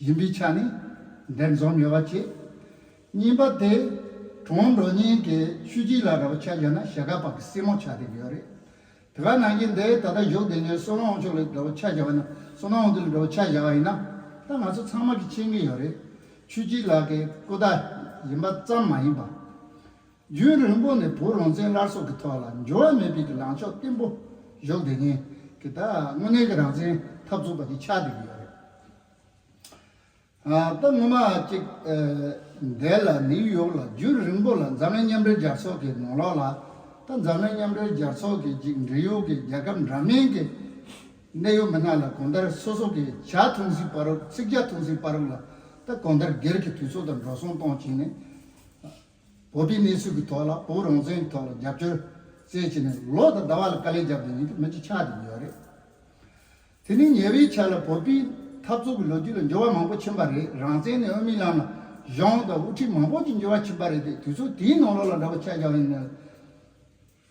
ཡིན་པའི་ཆ་ནས་འདིར་འཛོམས་ཡོད་པ་བཅས། གཉིས་པ་དེ། གྲོང་འགྲོ་གཉིས་ཀྱི་ཤུལ་རྗེས་ལ་ར་བ་ཆ་བཞག་ན་གཞས་སྒར་བར་གྱི་སྲིང་མོ་ཆ་དེ་ཡོད་རེད། དེ་ག་ནང་གི་འདི་ད་ལྟ་བཞུགས་བསྡད་ནས་སོ་ན་འོང་ཆོག་ལ་ར་བ་ཆ་བཞག་པ་ན་སོ་ན་འོང་དུས་ལ་ར་བ་ཆ་བཞག་པ་ཡིན་ན། ད་ང་ཚོ་ཚང་མ་གིས་མཁྱེན་གྱི་ཡོད་རེད། ཆོས་སྐྱིད་ལགས་ཀྱི་སྐུ་ཟླ་ཡིན་པ་ཙམ་མ་ཡིན་པ། རྒྱུན་རིང་པོ་ནས་བུ་རོང་བཙན་སླར་སྲོག་གི་ཐོག་ལ་འགྱུར་བ་མེད་པའི་གི་ལངས་ཕྱོགས་བརྟན་པོ་བཞོག་དེ་ནས་གི་ད་དངོས་གནས་གི་རང་བཙན་འཐབ་རྩོད་པ་དེ་ཆགས་བསྡད་གི་ཡོད་རེད། ད་སྔོན་མ་ཅིག་འདས་ལ་ནིའུ་ཡོག་ལ་རྒྱུན་རིང་པོ་ལ་འཛམ་གླིང་མཉམ་འབྲེལ་རྒྱལ་ཚོགས་གི་ནང་ལོགས་ལ་ད་འཛམ་གླིང་མཉམ་འབྲེལ་རྒྱལ་ཚོགས་གི་ཅིག་འབྲེལ་ཡོད་གི་རྒྱལ་ཁབ་འདྲ་མིན་གི་གནད་ཡོད་མི་སྣ་ལ་གོང་ལྟར་སོ་སོ་གི་ཞག་འཐུང་སའི་པར་རོགས་ཚིག་བརྒྱ་འཐུང་སའི་པར་རོགས་ལ་ད་གོང་ལྟར་སྒེར་གི་དུས་ཚོད་དང་འགྲོ་སོང་གཏོང་བྱས་ནས་བོད་པའི་གནས་ཚུལ་གྱི་ཐོག་ལ་བོད་རང་བཙན་གྱི་ཐོག་ལ་རྒྱབ་སྐྱོར་བཙལ་བྱས་ནས་ལོ་དང་ཟླ་བ་ལ་དཀའ་ལས་རྒྱབ་ཀྱི་ཡིན་ཏེ་མི་གཅིག་ཆགས་ཀྱི་ཡོད་རེད། དེ་ནི་ཉེ་བའི་ཆར་ལ་བོད་པའི་འཐབ་རྩོད་ཀྱི་ལོ་རྒྱུས་ལ་འགྱུར་བ་མང་པོ་ཕྱིན་པ་རེད་རང་བཙན་ནི་དབུ་མའི་ལམ་ལ་གཞུང་དང་དབུ་ཁྲིད་མང་པོ་ཅིག་འགྱུར་བ་ཕྱིན་པ་རེད་དེ་དུས་ཚོད་དེའི་ནང་ལོགས་ལ་འདྲ་པོ་ཆགས་ཀྱི་ཡོད་ནི།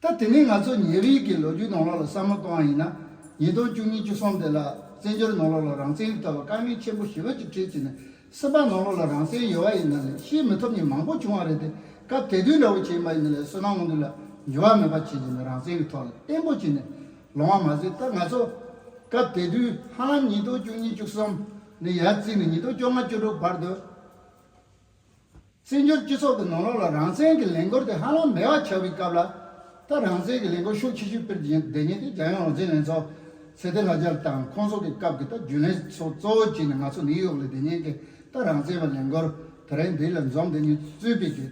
ད་དེ་ནས་ང་ཚོ་ཉིན་རེའི་གི་ལོ་རྒྱུས་ནང་ལོགས་ལ་བསམ་བློ་གཏོང་བ་ཡིན་ན། ཉིས་སྟོང་བཅུ་གཉིས་བཅུ་གསུམ་དེ་ལ་བཙན་བྱོལ་ནང་ལོགས་ལ་རང་བཙན་ཡོད་ཐོག་ལ་དཀའ་ངལ་ཆེན་པོ་ཞི་བ་གཅིག་ཁྲིད་བྱས་ནས་སེམས་པ་ནང་ལོགས་ལ་རང་བཙན་ཡོད་བ་ཡིན་ན་ལས་ཤེས་མི་ཐོབ་ཉིན་མང་པོ་བྱུང་བ་རེད་དེ་སྐབས་དད་འདུན་འདྲ་བོ་བྱས་མ་ཡིན་ན་ལས་བསོད་ནམས་དབང་འདུས་ལ་འགྱུར་བ་མེད་པ་བྱས་བྱས་ནས་རང་བཙན་གི་ཐོག་ལ་བརྟན་པོ་བྱས་ནས་ལོང་བ་མ་ཟད་ད་ང་ཚོ་སྐབས་དད་འདུན་ཧ་ལམ་ཉིས་སྟོང་བཅུ་གཉིས་བཅུ་གསུམ་ནས་ཡར་བརྩིས་ནས་ཉིས་སྟོང་བཅོ་ལྔ་བཅོ་དྲུག་བར་དུ། བཙན་བྱོལ་སྤྱི་ཚོགས་ཀྱི་ནང་ལོགས་ལ་རང་བཙན་གྱི་ལས་འགུལ་དེ་ཧ་ལམ་མེད་བ་ཆགས་པའི་སྐབས་ལ། ད་རང་བཙན་གྱི་ལས་འགུལ་ཤུགས་ཆེ་ཤོས་སྤེལ་བདེ་ཉེ་དེ་རྒྱལ་ཡོངས་རང་བཙན་ལྷན་ཚོགས། ཚེ་བརྟན་ལྷ་རྒྱལ་དང་ཁོང་ཚོ་གི་སྐབས་ཀྱི་ད་རྒྱུན་ལས་ཚོགས་གཙོ་བོ་བྱས་ནས་ང་ཚོ་ནིའུ་ཡོག་ལས་བདེ་ཉེ་གི་ད་རང་བཙན་བ་ལས་འགུལ་དེ་རིང་འདི་ལ་འཛོམས་བདེ་ཉེ་གཙོས་སྤེལ་གི་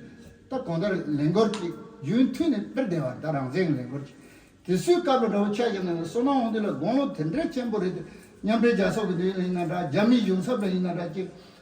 ད་གང་ལྟར་ལས་འགུལ་ཅིག་རྒྱུན་མཐུད་ནས་སྤེལ་བདེ་བ་ད་རང་བཙན་གྱི་ལས་འགུལ་ཅིག་དེ་སུའི་སྐབས་ལ་འདྲ་བོ་ཆགས་ཀྱི་འདུག་སོ་ནའོ་འདི་ལ་དགོངས་ལོ་དེ་འདྲའི་ཆེན་པོ་རེད་དེ་མཉམ་འབྲེལ་རྒྱལ་ཚོགས་ཀྱི་འདི་ཡིན་ན་འདྲ་རྒྱ་མིའི་གཞུང་ཚབ་ལ་ཡིན་ན་འདྲ་ཅིག་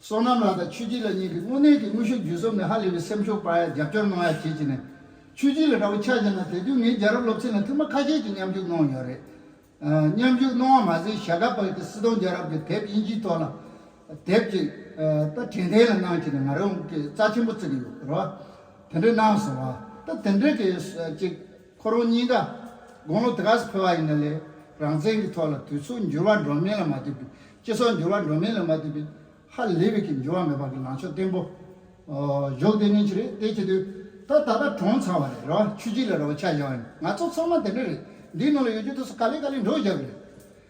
བསོད་ནམས་ལགས་དང་ཆོས་སྐྱིད་ལགས་གཉིས་ཀྱིས་དངོས་གནས་ཀྱི་དངོས་ཤུགས་བརྒྱུད་གསུམ་ནས་ཧ་ལས་པའི་སེམས་ཤུགས་སྤར་ཡག་རྒྱབ་སྐྱོར་གནང་ཡག་བྱེད་ཅིག་ནས། ཆོས་སྐྱིད་ལ་དགྲ་བོ་ཆགས་ཀྱི་ན་དེ་དུས་ངས་རྒྱལ་རབས་སློབ་ཚན་ལ་ཐུགས་མ་ཁ་ཤས་ཀྱིས་མཉམ་ཞུགས་གནང་ཡོད་རེད། མཉམ་ཞུགས་གནང་བ་མ་ཟད་ཞྭ་སྒ་བར་གྱི་སྲིད་སྟོང་རྒྱལ་རབས་ཀྱི་དེབ་དབྱིན་ཇིའི་ཐོག་ལ་དེབ་ཅིག་ད་དྲན་ཐེངས་ལ་གནང་བྱས་ནས་ང་རང་གིས་རྩ་ཆེན་པོ་བརྩི་གི་ཡོད་རེད། དེ་འདྲ་གནང་སོང་བ་ད་དེ་འདྲ་གི་ཅིག། ཁོ་རང་གཉིས་ཀ་དགུང་ལོ་དེ་ག་ས་འཕེལ་བ་ཡིན་ན་ལས་རང་བཙན་གྱི་ཐོག་ལ་དུས་ཚོད་འགྱུར་བ་འགྲོ་མིན་ལ་མ་ལྟོས་པའི་སྤྱི་ཚོགས་འགྱུར་བ་འགྲོ་མིན་ལ་མ་ལྟོས་པའི་ཧ་ལས་པའི་གི་འགྱུར་བ་མེད་པ་གི་ལངས་ཕྱོགས་བརྟན་པོ་བཞུགས་དེ་ནི་ཆི་རེད་དེ་ཆི་དུས་ད་ད་ལྟ་གྲོངས་ཚར་བ་རེད་རེད་བ་ཆུ་སྐྱིད་ལ་རེད་བ་ཆ་བཞག་ཡོད་ནི་ང་ཚོ་ཚང་མ་དེ་འདྲ་རེད་འདིའི་ནང་ལ་ཡོད་རྒྱུ་དེ་ཚོ་ག་ལེ་ག་ལེ་འགྲོ་བཞག་གི་རེད་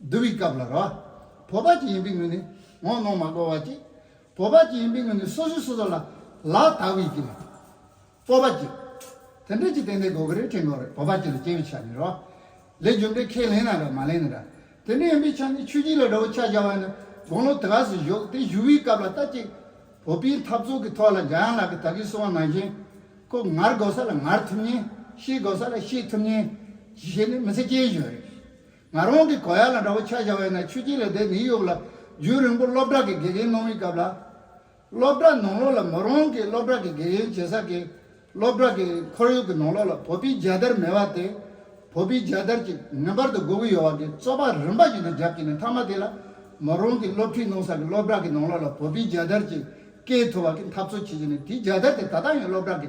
བསྡུ་བའི་སྐབས་ལ་རོ། བོ་པ་ཅི་ཡིན་པའི་ངོས་ནས་ངོ་གནོང་མ་བསྒོ་བ་ཅིག། བོ་པ་ཅི་ཡིན་པའི་ངོས་ནས་སོ་སོས་སོ་སོ་ལ་ལ་དག་བའི་ཅིག། སྤོབས་པ་ཅིག། དེ་འདྲས་ཀྱི་ཏན་ཏན་གོ་གི་རེ་ཕྲེང་གོ་རེ་བོ་པ་ཅིག་ལ་སྐྱེ་བའི་ཆ་ནི་རོ། ལས་རྒྱུ་འབྲས་ཁས་ལེན་ན་ར་མ་ལེན་ན་ར། དེ་འདྲས་ཡིན་པའི་ཆ་ནི་ཆོས་སྐྱིད་ལ་ར་བོ་ཆ་བྱ་བ་ནི་དགུང་ལོ་དགའ་སུ་བཞུགས་དེ་བཞུགས་བའི་སྐབས་ལ་ལྟ་ཅིག། བོ་པའི་འཐབ་རྩོད་ཀྱི་ཐོག་ལ་འཇའ་ཡང་ལག་གི་དག་གིས་གསུང་བ་ནང་བཞིན། ཁོ་ངར་དགོ་ས་ལ་ངར་ཐུབ་ཉེན། ཤེས་དགོ་ས་ལ་ཤེས་ཐུབ་ཉེན། ཞེས་ནི་མི་ཚེ་སྐྱེལ་བཞིན་རེད། ང་རང་གི་གོ་ཡ་ལ་འདྲ་བོ་ཆགས་བཞག་བས་ན་ཆུ་སྐྱེས་ལས་དེ་ནི་གཡུག་ལ། རྒྱུན་རིང་པོ་སློབ་གྲྭ་གི་དགེ་རྒན་གནང་མི་སྐབས་ལ། སློབ་གྲྭ་ནང་ལོགས་ལ་མོ་རང་གིས་སློབ་གྲྭ་གི་དགེ་རྒན་བྱེད་ས་དགེ། སློབ་གྲྭ་གི་ཁོར་ཡུག་གི་ནང་ལོགས་ལ་བོད་པའི་རྒྱལ་དར་མེ་བ་དེ། བོད་པའི་རྒྱལ་དར་གྱིས་ངེས་པར་དུ་སྒུག་གི་ཡོད་བ་དེ་རྩོད་པ་རིམ་པ་ཞིག་ཏུ་བརྒྱབ་ཀྱིན་ནས་མཐའ་མ་དེ་ལ། མོ་རང་གིས་སློབ་ཁྲིད་གནང་ས་གི་སློབ་གྲྭ་གི་ནང་ལོགས་ལ་བོད་པའི་རྒྱལ་དར་གྱིས་བཀལ་ཐུབ་བ་གི་འཐབ་རྩོད་བྱེད་ཀྱིན་ནས་དེའི་རྒྱལ་དར་དེ་ད་ལྟ་ཡང་སློབ་གྲྭ་གི་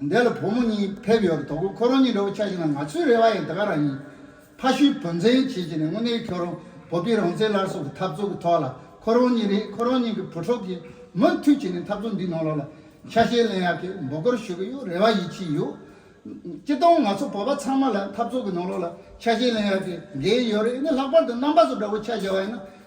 འདས་ལ་བུ་མོ་གཉིས་ཕེབས་ཡོད་དོ་གོ་ཁོ་རང་གཉིས་འདྲ་བོ་ཆགས་ཤིང་ན་ང་ཚོའི་རེ་བ་ཡང་དེ་ག་རང་ཡིན། ཕ་ཤུལ་བུ་འཛིན་བྱེད་བྱས་ནས་དངོས་གནས་ཁྱོད་རང་བོད་པའི་རང་བཙན་སླར་གསོ་གི་འཐབ་རྩོད་ཀྱི་ཐོག་ལ་ཁོ་རང་གཉིས་རེད་ཁོ་རང་གཉིས་ཀྱི་བུ་ཕྲུག་གིས་མུ་མཐུད་བྱས་ནས་འཐབ་རྩོད་འདིའི་ནང་ལོགས་ལ་ཆ་ཤས་ལེན་ཡག་གི་འབོད་སྐུལ་ཞུ་གི་ཡོད་རེ་བ་ཡིད་ཆེས་ཡོད། སྤྱི་སྟངས་ང་ཚོ་བོད་པ་ཚང་མ་ལ་འཐབ་རྩོད་ཀྱི་ནང་ལོགས་ལ་ཆ་ཤས་ལེན་ཡག་གི་འགན་ཡོད་རེད་ནས་ལྷག་པར་དུ་རྣམ་པ་ཚོ་འདྲ་བོ་ཆགས་བཞག་པ་ཡིན་ན་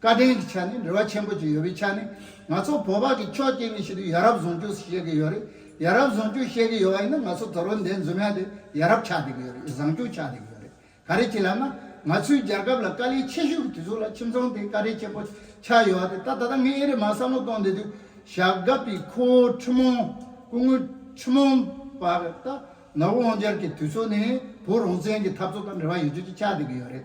བཀའ་བསྟན་གྱི་ཆ་ནས་འབྲེལ་བ་ཆེན་པོ་བཅས་ཡོད་པའི་ཆ་ནས་ང་ཚོ་བོད་པ་གིས་ཕྱོགས་གཅིག་ནས་བཤད་དུས་ཡ་རབས་བཟུང་སྤྱོད་བྱེད་ཀྱི་ཡོད་རེད་ཡ་རབས་བཟུང་སྤྱོད་བྱེད་ཀྱི་ཡོད་པ་ཡིན་ན་ང་ཚོ་དོ་རོ་འདས་འཛོམས་ཡ་དེ་ཡ་རབས་ཆགས་བསྡད་ཀྱི་ཡོད་རེད་བཟང་སྤྱོད་ཆགས་བསྡད་ཀྱི་ཡོད་རེད་ག་རེ་བྱེད་ལབ་ན་ང་ཚོའི་རྒྱལ་ཁབ་ལ་དཀའ་ལས་ཆེ་ཤོས་ཀྱི་དུས་ཚོད་ལ་ཁྱིམ་ཚང་དེ་དཀའ་ལས་ཆེན་པོ་ཆགས་ཡོད་བ་དེ་ད་ད་ལྟ་ངས་ཨེ་རེད་མ་བསམ་བློ་གཏོང་བསྡད་དུས་ཞག་སྒབ་པའི་ཁོ་བོ་ཁྲི་མོང་སྐུ་ངོ་ཁྲི་མོང་པ་ད་ནོར་བུ་དབང་རྒྱལ་གྱི་དུས་ཚོད་ནས་བོད་རང་བཙན་གྱི་འཐབ་རྩོད་དང་འབྲེལ་བ་ཡོད་ཆོད་ཅིག་ཆགས་བསྡད་ཀྱི་ཡོད་རེད་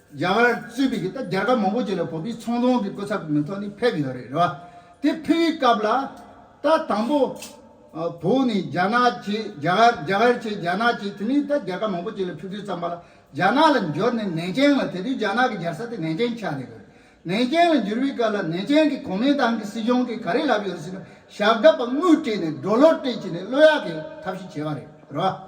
རྒྱ་གར་གཙོས་པའི་ད་རྒྱལ་ཁབ་མང་པོ་ཅིག་ལ་བོད་པའི་ཚོང་དོན་གྱི་སྐུ་ཚབ་མི་ཐོག་ནས་ཕེབས་ཡོད་རེད་རེད་བ། དེ་ཕེབས་ཡོད་སྐབས་ལ། ད་དང་པོ། བོད་ནས་རྒྱ་ནག་བཅས་རྒྱ་གར་རྒྱ་གར་བཅས་རྒྱ་ནག་བཅས་དེ་མིན་ད་རྒྱལ་ཁབ་མང་པོ་ཅིག་ལ་ཕེབས་དུས་ཙམ་པ་ལ་རྒྱ་ནག་ལ་འབྱོར་ནས་ནན་ཅན་ལ་དེ་དུས་རྒྱ་ནག་གི་རྒྱལ་ས་དེ་ནན་ཅན་ཆགས་རེད་དགོས། ནན་ཅན་ལ་འབྱོར་བའི་སྐབས་ལ་ནན་ཅན་གྱི་གོ་མིན་ཏང་གི་སྲིད་གཞུང་གིས་ག་རེ་ལབ་ཡོད་ཟེར་ན་ཞག་འགའ་པ་དངུལ་སྤྲད་ནས་སྒྲོ་ལོ་སྤྲད་བྱས་ནས་བློ་ཡག་གིས་ཐབས་ཤེས་བྱས་པ་རེད་རེད་བ།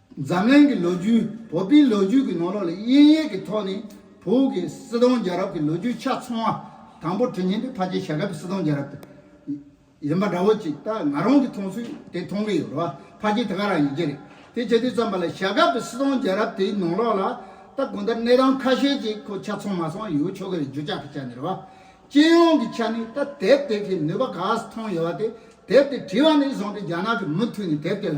འཛམ་གླིང་གི་ལོ་རྒྱུས་བོད་པའི་ལོ་རྒྱུས་ཀྱི་ནང་ལོགས་ལ་དབྱིན་ཡིག་གི་ཐོག་ནས་བོད་ཀྱི་སྲིད་སྟོང་རྒྱལ་རབས་ཀྱི་ལོ་རྒྱུས་ཆ་ཚང་བ་དང་པོ་བྲིས་ཉིན་དེ་ཕ་རྗེས་ཞྭ་སྒབ་པའི་སྲིད་སྟོང་རྒྱལ་རབས་དེ་ཡིན་པ་འདྲ་བོ་ཅིག་ད་ང་རང་གིས་མཐོང་ཚུལ་དེ་མཐོང་གི་ཡོད་རེད་བ་ཕ་རྗེས་དེ་ག་རང་ཡིན་གྱི་རེད་དེ་བྱེད་དུས་བརྩམས་པ་ལ་ཞྭ་སྒབ་པའི་སྲིད་སྟོང་རྒྱལ་རབས་དེའི་ནང་ལོགས་ལ་ད་གོང་ལྟར་གནས་སྟངས་ཁ་ཤས་ཅིག་ཁོ་ཆ་ཚང་མ་སོང་ཡོད་ཆོག་གི་རེད་རྒྱུ་ཆ་གི་ཆ་ནས་རེད་བ། སྤྱི་ཡོངས་ཀྱི་ཆ་ནས་ད་དེབ་དེ་གི་ནུས་པ་ག་ས་མཐོང་ཡོད་བ་དེ་དེབ་དེ་བྲིས་བ་ནས་བཟུང་སྟེ་རྒྱ་ནག་གི་མུ་མཐུད་ནས་དེབ་དེ་ལ་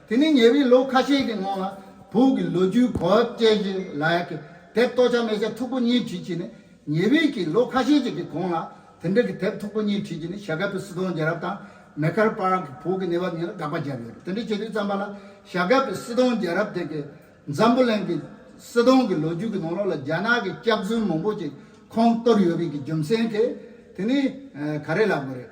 དེ་ནས་ཉེ་བའི་ལོ་ཁ་ཤས་ཀྱི་སྔོན་ལ་བོད་ཀྱི་ལོ་རྒྱུས་གོ་བ་དཔྱད་གཞི་ལ་ཡག་གི་དེབ་ལྟོ་ཆ་མེ་ཆ་མཐུག་པོ་གཉིས་བྲིས་བྱས་ནས་ཉེ་བའི་གི་ལོ་ཁ་ཤས་ཅིག་གི་གོང་ལ་དེ་འདྲ་གི་དེབ་མཐུག་པོ་གཉིས་བྲིས་བྱས་ནས་ཞྭ་སྒབ་པའི་སུ་དོན་རྒྱལ་རབས་དང་མེ་ཁར་པར་གི་བོད་ཀྱི་གནས་བབ་གཉིས་ལ་དགག་པ་བརྒྱབ་ཡོད་རེད་དེ་འདྲ་བྱས་དུས་བརྩམས་པ་ལ་ཞྭ་སྒབ་པའི་སི་དོན་རྒྱལ་རབས་དེ་གི་འཛམ་བུ་གླིང་གི་སི་དོན་གི་ལོ་རྒྱུས་གི་ནང་ལོགས་ལ་རྒྱ་ནག་གི་སྐྱག་རྫུན་མང་པོ་ཅིག་ཁོང་གཏོར་ཡོད་རིགས་གི་རྒྱུ་མཚན་གི་དེ་ནི་ག་རེ་ལབ་དགོས་རེད།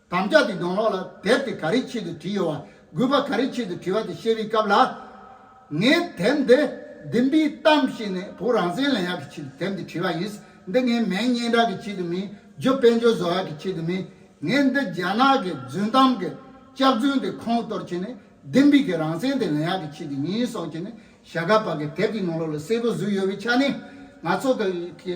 དམ་བཅའ་དེ་གདོང་ལོགས་ལ་དེབ་དེ་ག་རེའི་ཆེད་དུ་བྲིས་ཡོད་བ་དགོས་པ་ག་རེའི་ཆེད་དུ་བྲིས་བ་དེ་བཤད་པའི་སྐབས་ལ། ངས་དེབ་འདི་བདུན་པའི་གཏམ་བཤད་ནས་བོུ་རང་བཙན་ལེན་ཡག་གི་ཆེད་དུ་དེབ་འདི་བྲིས་བ་ཡིན། འདི་ངའི་མན་སྙན་གྲགས་ཀྱི་ཆེད་དུ་མིན། རྒྱུ་དཔལ་འབྱོར་བཟོ་ཡག་གི་ཆེད་དུ་མིན། ངས་འདི་རྒྱ་ནག་གི་རྫུན་གཏམ་གི་ལྕགས་རྫུན་དེ་ཁོང་གཏོར་བྱས་ནས་བདུན་པའི་གི་རང་བཙན་དེ་ལེན་ཡག་གི་ཆེད་དུ་ཡིན་སོགས་བྱས་ནས་ཞྭ་སྒ་བག་གི་དེབ་ཀྱི་ནང་ལོགས་ལ་གསལ་པོ་བཟོས་ཡོད་པའི་ཆ་ནས་ང་ཚོ་གི་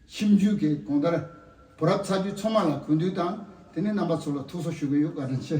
ཁྱིམ་རྒྱུད་ཀྱི་གོང་དར་བུ་རབས་ཚ་རྒྱུད་ཚང་མ་ལ་གུས་འདུད་དང་དེ་ནས་རྣམ་པ་ཚོ་ལ་ཐུགས་གསོ་ཞུ་གི་ཡོད་བཀའ་དྲིན་ཆེ།